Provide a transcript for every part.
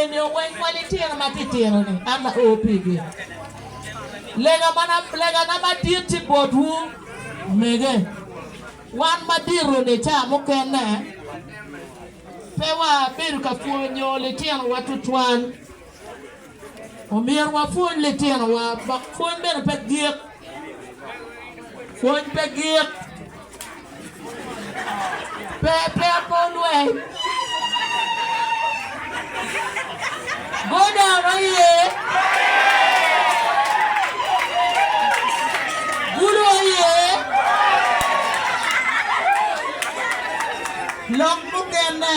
Eni ogweng pa litino matitino-ni an ao pigi. Legana madit tye botwu mege. Wan madito-ni ca mukene pe wabedo ka pwonyo litinowa tutwal. Omyero wapwony litinowa ma pwony bene pe gik. Pwony pe gik. Pe pe akor lweny. Go down aye. Gulu aye. Lok mukene.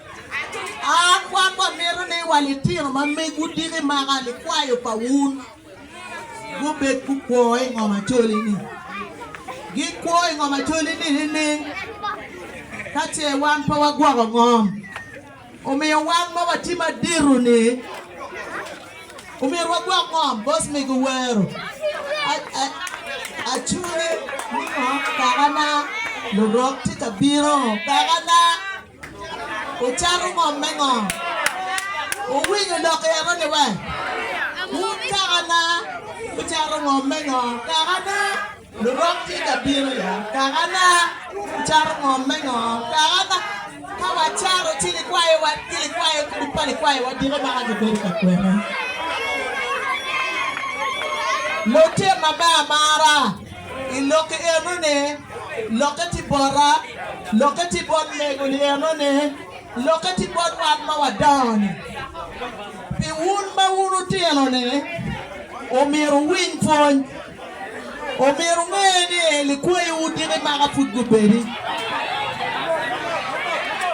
Kwan wamito ni wa litino ma meg wudiki maka likwayo pa wun gubed gukwo i ngom acoli-ni. Gikwo i ngom acoli-ni nining? Ka ce wan pe wagwoko ngom, omiyo wan ma watye madito-ni omyero wagwok ngom. Bos mego owero, Acungi ni ngo kakana, lurok tye ka bino kakana. Wucako ngom me ngo? Wuwinyo lok i eno ni wa? Wun kakana wucako ngom me ngo? Kakana lurok tye ka bino ya? Kakana wucako ngom me ngo? Kakana ka wacaro ci likwayo wa ki likwayo ki pa likwayo wa diko ma ka ki bedo ka kwene. Lutino ma me amara. I lokke enoni, lokke tye bota, lokke tye bot mego-ni enoni, lokke tye bot wat ma wadongo-ni. Pi wun ma wun otino-ni, omyero wuwiny pwony. Omyero wunge ni likwayiwu odiki maka pud gubedi.